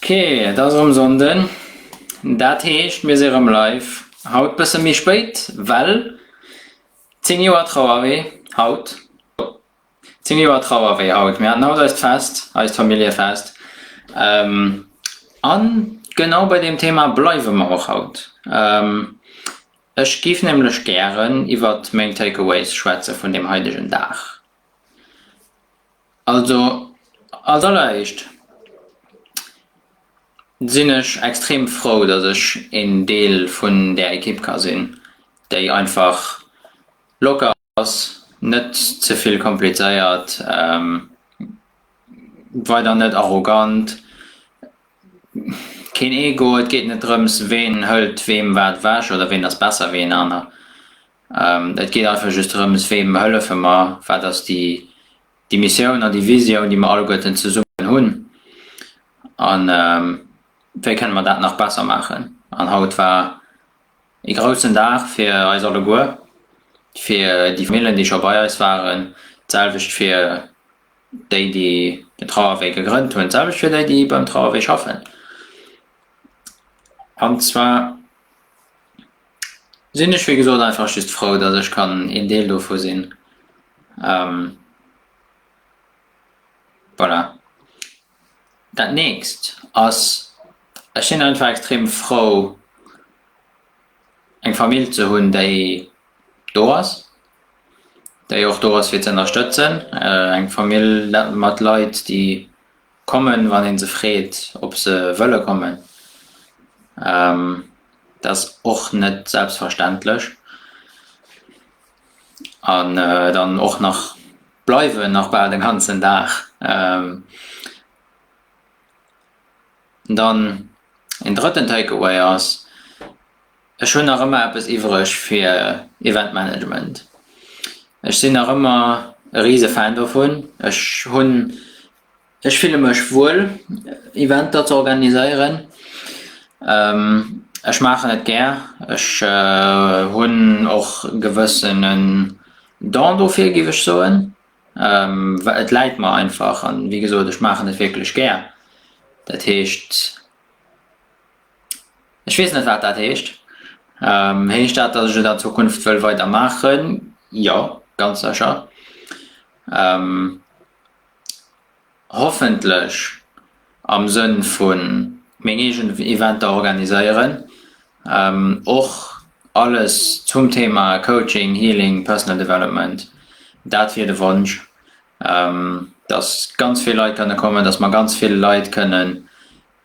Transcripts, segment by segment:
Ok, et ass erëm Sonnden, dat heescht mir si rëm live. Haut e bësse méi spéit, well 10 Joer Trauerwee haut. 10 Joer Trauerwee haut. Mir haten haut eist Fest, eist Familljefest a genau bei deem Thema bleiwe mer och haut. Ech géif nämlech gären iwwert meng Take-Aways schwätze vun deem haidegen Dag. Also, als alleréischt sinn ech extrem frou, dass ech een Deel vun där Ekipp ka sinn, déi einfach locker ass, net ze vill komplizéiert, weider net arrogant, keen Ego, et geet net drëms, ween hëlt weem wat ewech oder ween ass besser wéi een aner. Et geet einfach just drëms, weem hëllefe mer, wat ass déi Missioun an déi Visioun, déi mer alleguerten zesummen hunn an wéi kënne mer dat nach besser maachen. An haut war ee groussen Dag fir eis alleguer, fir déi Famillen, déi scho bei eis waren, d'selwecht fir déi, déi den Trauerwee gegrënnt hunn, d'selwecht fir déi, déi beim Trauerwee schaffen an zwar, sinn ech wéi gesot einfach just frou, datt ech kann een Deel dovu sinn. Voilà. Dat nächst ass, ech sinn einfach extrem frou, eng Famill ze hunn, déi do ass, déi och do ass fir ze ënnerstëtzen. Eng Famill mat Leit, déi. Kommen, wann een se freet ob se wëlle kommen. Dat ass och net selbstverständlech. An dann och nach bleiwen, nach bal den ganzen Dag. Dann een drëtten Takeaway ass, ech hunn nach ëmmer eppes iwwreg fir Event Management. Ech sinn nach ëmmer e rise Fan dovun. Ech hunn Ech fille mech wuel Eventer ze organiséieren. Ech maachen et gär, ech hunn och e gewëssenen Don dofir géif ech soen. Et läit mer einfach a wéi gesot ech maachen et wierklech gär. Dat heescht, ech weess net wat dat heescht. Heescht dat, datt ech et an Zukunft wëll weider maachen? Jo, ganz sécher. hoffentlech am Sënn vun meng eegen Eventer organiséieren, och alles zum Thema Coaching, Healing, Personal Development, dat wier de Wonsch, dass ganz vill Leit kënne kommen, dass mer ganz vill Leit kënnen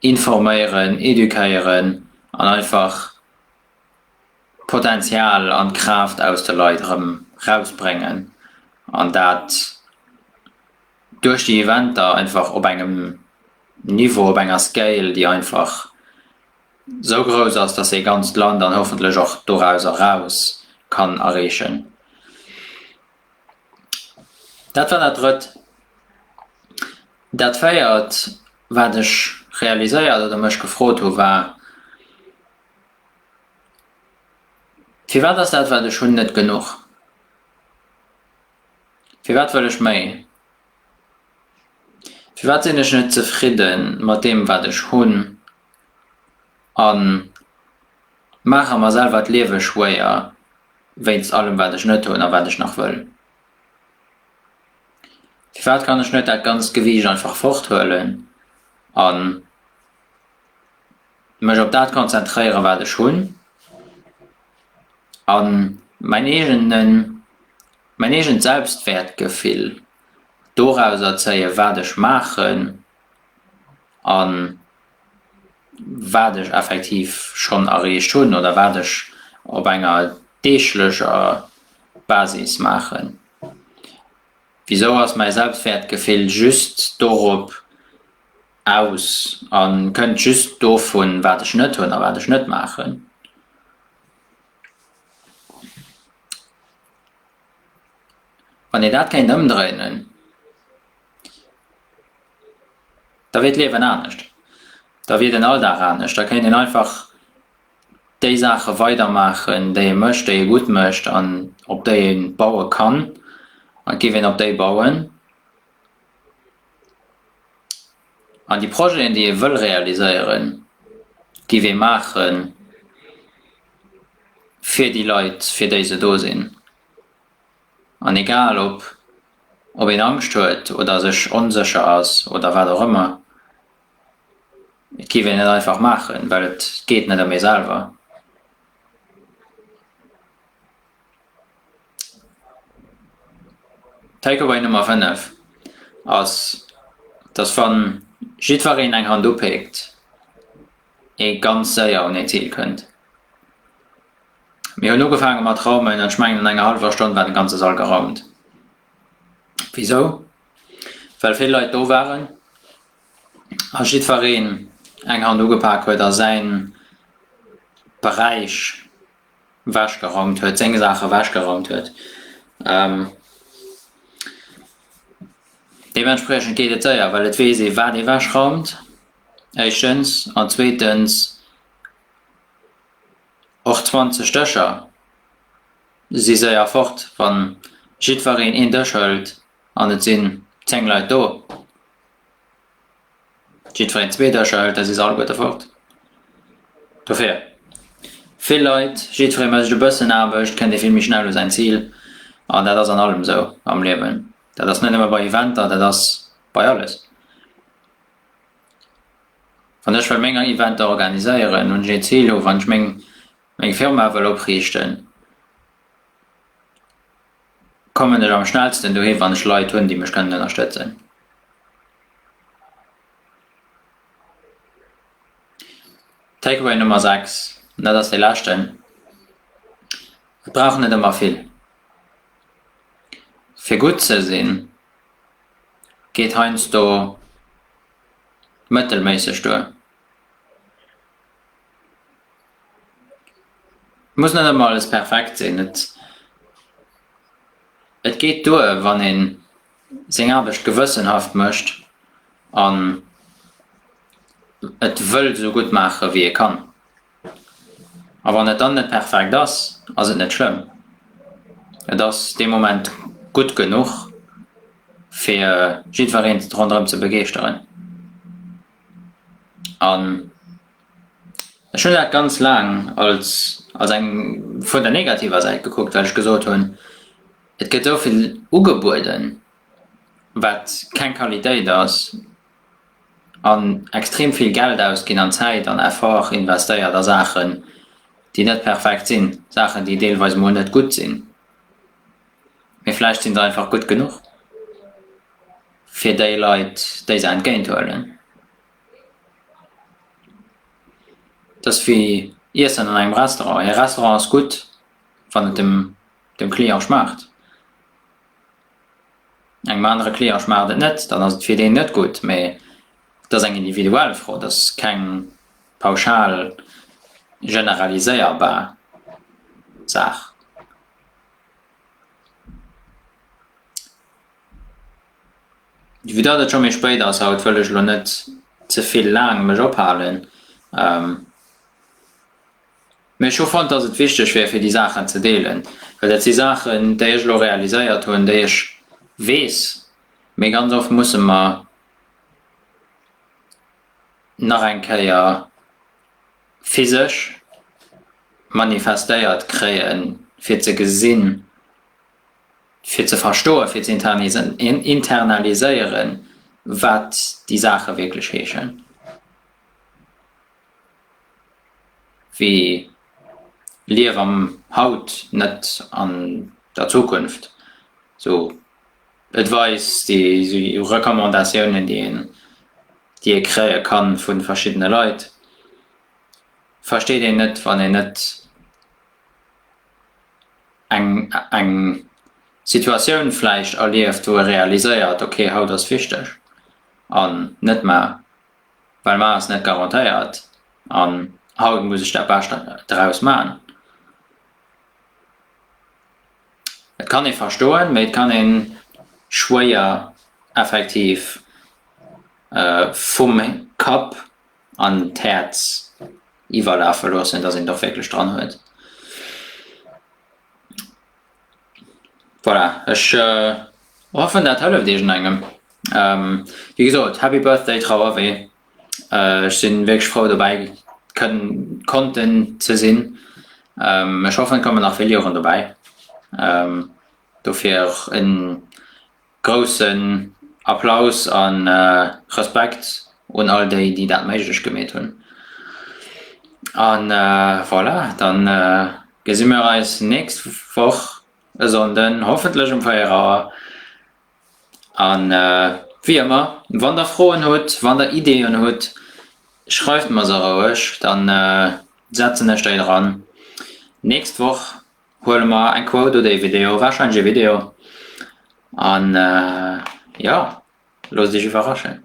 informéieren, educéieren an einfach. d'Potenzial an d'Kraaft aus de Leit erëm rausbréngen an dat duerch déi Eventer einfach op engem Niveau, op enger Scale, déi einfach sou grouss ass, dass ee ganzt Land an hoffentlech och dorauser eraus kann erreechen. Dat war dat Drëtt. Dat Véiert, wat ech realiséiert oder mech gefrot hu war, Firwat ass dat, wat ech hunn, net genuch? Firwat wëll ech méi? Firwat sinn ech net zefridde mat deem, wat ech hunn, a maache mer selwer d'Liewe schwéier wéinst allem, wat ech net hunn a wat ech nach wëll? Firwat kann ech net dat ganzt Gewiicht einfach forthuelen a mech op dat konzentréieren, wat ech hunn, a mäin eegenen, mäin eegent Selbstwäertgefill dorauser zéien, wat ech maachen a wat ech effektiv schonn erreecht hunn oder wat ech op enger deeglecher Basis maachen. Wisou ass mäi Selbstwäertgefill just dorop aus a kënnt just dovun, wat ech net hunn a wat ech net maachen. Wann ee dat kéint ëmdréinen, da wier d'Liewen anescht, da wier den Alldag anescht, da kéint een einfach déi Saache weidermaachen, déi ee mécht, déi ee gutt mécht an op déi ee baue kann, an et géif een op déi bauen. An déi Projeten, déi ee wëll realiséieren, géif ee maache fir déi Leit, fir déi se do sinn. An egal ob een Angscht huet oder sech onsécher ass oder wat och ëmmer, et géif een et einfach maachen, well et geet net ëm ee selwer. D'Takeaway Nummer 5 ass, dass wann jiddwereen eng Hand upéckt, ee ganz séier un ee Zil kënnt. Mir hunn ugefaange mat raumen, an ech mengen, an enger hallwer Stonn war de ganze Sall geraumt. Wisou? Well vill Leit do waren a jiddwereen eng Hand ugepak huet a säin Beräich. Ewech geraumt huet, seng Saach ewech geraumt huet. Deementspriechend geet et séier, well et weess ee wat ee wech raumt, éischtens, an zweetens och 20 Dëscher si séier fort, wann jiddwereen een Dësch hëlt an et sinn 10 Leit do. Jidd feren zweet Äscher hëlt, da si se alleguerte fort. Dofir, vill Leit, jiddferee mécht e bëssen Aarbecht, kënnt ee vill méi schnell u säin Zil. An dat ass an allem esou am Liewen. Dat ass net nëmme bei Eventer, dat ass bei alles. Wann ech wëll meng Eventer organiséieren, hunn ech een Zil. Hu wann ech meng Firma wëll opriichten. kommen ech am schnellsten dohin, wann ech Leit hunn, déi mech kënnen ënnerstëtzen. Takeaway Nummer 6, an dat ass dee leschten, Et brauch net ëmmer vill. Fir gutt ze sinn, geet heiansdo mëttelméisseg duer. Muss net ëmmer alles perfekt sinn. Et et geet duer wann een seng Aarbecht gewëssenhaft mécht an et wëll esou gutt maache wéi ee kann. A wann et dann net perfekt ass, ass et net schlëmm. Et ass dee Moment gutt genuch fir jiddwereen ronderëm ze begeeschteren an. Ech hunn dat ganz laang als als eng vun der negativer Säit gekuckt, well ech gesot hunn, et gëtt esou vill ugebueden, wat keng Qualitéit ass an extrem vill Geld ausginn an Zäit an Effort investéiert a Saachen, déi net perfekt sinn, Saachen, déi deelweis emol net gutt sinn, mee vläicht si se einfach gutt genuch fir déi Leit, déi se entgéinthuelen. Dass wéi Iessen an engem Restaurant. Ee Restaurant ass gutt, wann et dem Client schmaacht. Engem anere Client schmaacht et net, dann ass et fir deen net gutt. Mee et ass eng individuell Fro, et ass keng pauschal generaliséierbar Saach. Vue datt et scho méi spéit ass haut, wëll ech elo net ze vill laang mech ophalen, mee ech hu fonnt, datt et wichteg wier fir déi Saachen ze deelen, well dat si Saachen, déi ech elo realiséiert hunn, déi ech weess, mee ganz oft musse mer nach eng Kéier physesch manifestéiert kréien, fir ze gesinn, fir ze verstoen, fir ze internaliséieren, wat déi Saache wierklech heeschen, wéi Liewe am Haut, net an der Zukunft. Esou Advice, déi Recommandatiounen, déi een, déi ee kréie ka vu verschiddene Leit, versteet een net, wann een net. eng Situatioun vläicht erlieft, wou e realiséiert, ok haut ass wichteg an net mar, well mar ass net garantéiert an haut muss ech dat Bescht draus man. Et kann ee verstoen, mee et kann ee schwéier effektiv vum Kapp an d'Häerz iwwerlafe loossen, datt een et och wierklech dran huet. Voilà, ech hoffen dat hëlleft iergendengem. Wéi gesot, Happy Birthday Trauerwee, ech sinn wierklech frou dobäi konnten ze sinn, ech hoffen et kommen nach vill Joren dobäi, dofir och en. Groussen Applaus a Respekt un all déi, déi dat méiglech gemeet hunn. A voilà, da gesi mir eis nächst Woch e Sonnden, hoffentlech um 4 Auer. A wéi ëmmer, wann Der Froen hutt, wann Der Ideeën hutt, schreift mer se roueg, da setzen ech déi dran. Nächst Woch. Huele mer eng Quote oder ee Video, warscheinlech ee Video an jo, looss dech iwwerraschen.